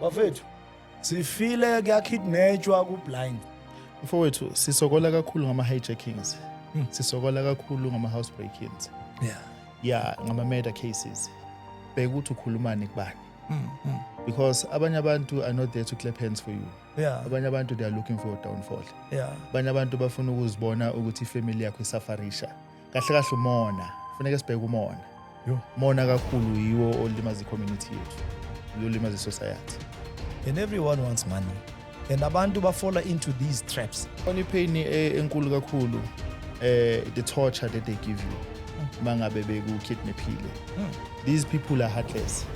bafethu sifile kuyakidnetshwa ku-blind mfowethu sisokola kakhulu ngama-hijackings hmm. sisokola kakhulu ngama-house breakings yeah. ya ngama-murder cases bheka ukuthi ukhulumani kubani hmm, hmm. because abanye abantu are not there to clap hands for you yeah. abanye abantu they are looking for a downfall yeah. abanye abantu bafuna ukuzibona ukuthi ifamily yakho isafarisha kahle kahle umona funeke sibheke umona Yo. mona kakhulu yiwo olimaza i-community yethu uyolimaza i-society and everyone wants money and abantu bafola into these traps khona ipain e- enkulu kakhulu eh the torture that they give you uma ngabe bekukidnaphile these people are heartless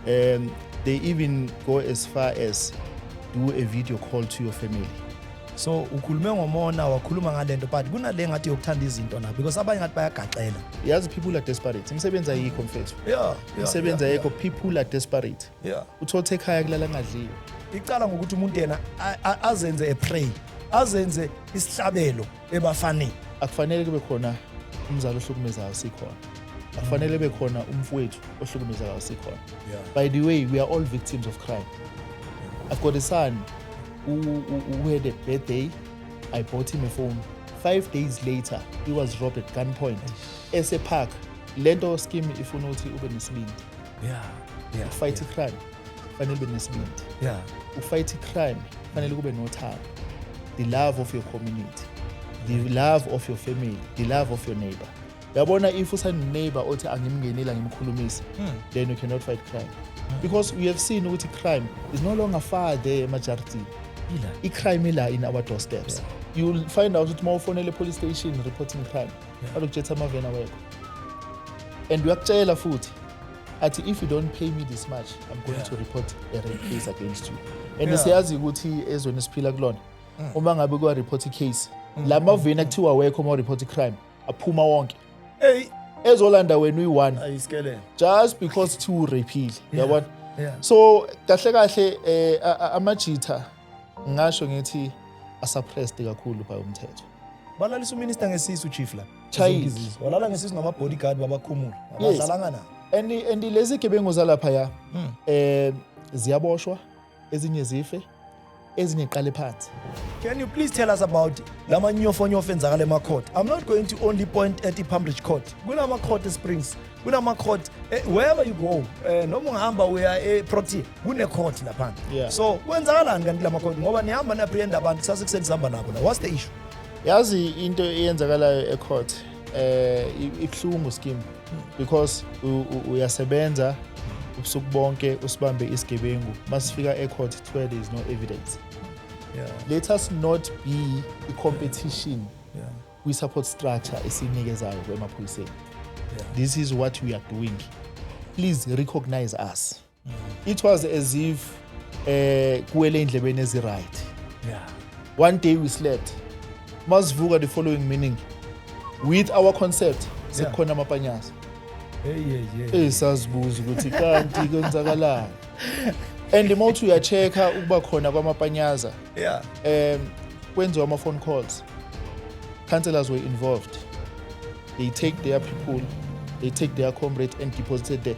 um they even go as far as do a video call to your family so ukhulume ngomona wakhuluma ngale nto but kunale ngathi yokuthanda izinto na because abanye ngathi bayagaxela yazi people are desperate imisebenzi ayikho mfethu yeah, imisebenzi ayikho yeah, yeah. people are desperate yeah. uthothe ekhaya kulala ngadliwe icala ngokuthi umuntu yena azenze epray azenze isihlabelo ebafaneni akufanele kube khona umzali ohlukumezayo sikhona akufanele kube khona umfowethu ohlukumezayo sikhona by the way we are all victims of crime i've got a son who had a bad day i bought him a phone five days later he was robbed at gunpoint esepark le nto scheme ifuna ukuthi ube nesibindi yeah, yeah, ufight yeah. crime fanele ube nesibindi yeah. ufight crime fanele kube nothando the love of your community the love of your family the love of your neighbor yabona if useneneighbor othi angimngeneli angimkhulumisi hmm. then you cannot fight crime because we have seen ukuthi crime is no longer far there emajaridini i-crime ila in our doorsteps yeah. you'll find out ukuthi uma ufonele police station reporting crime yeah. alokujetha amavena wekho and uyakutshela futhi athi if you don't pay me this much i'm going yeah. to report a rape case against you and yeah. siyazi ukuthi ezweni esiphila kulona mm. uma ngabe kuwa-report i-case mm. la maveni akuthiwa wekho uma u-report i-crime aphuma wonke hey ezolanda wena uyi-one ayisikelele just because thi ureyphile yabona yeah. so kahle kahle eh amajitha ngasho ngithi asuppressed kakhulu by umthetho balalisa uminister ngesisu chief la chayizizwa walala ngesisu namabodyguard babakhumula abadlalanga na and and lezi gebengu zalapha ya hmm. eh ziyaboshwa ezinye zife ezinye qale phansi can you please tell us about la manyofonyofo enzakala emacourt i'm not going to only point at ipambridge court kunamacourt esprings kunamacourt eh, wherever you go um noma ungahamba uya eprotea kunecourt laphandle yeah. so kwenzakalani kanti la macourt ngoba nihamba niyapriyenda abantu sase kuseni sihamba nabo la what's the issue yazi into eyenzakalayo ecourt eh ibuhlungu scheme because uyasebenza ubusuku bonke usibambe isigebengu masifika ecourt kuthiwa there is no evidence yeah. let us not be a competition yeah. we support structure esinikezayo kwemaphoyiseni yeah. this is what we are doing please recognize us it was as if eh kuwele indlebeni ezi right yeah one day we slept masivuka the following meaning with our concept sekukhona yeah. amapanyasa hey hey hey eh, sazibuza ukuthi kanti kwenzakalani and uma uthi uyacheck-a ukuba khona kwamapanyaza yeah um kwenziwa ama-phone calls councillors were involved they take their people they take their comrades and deposited there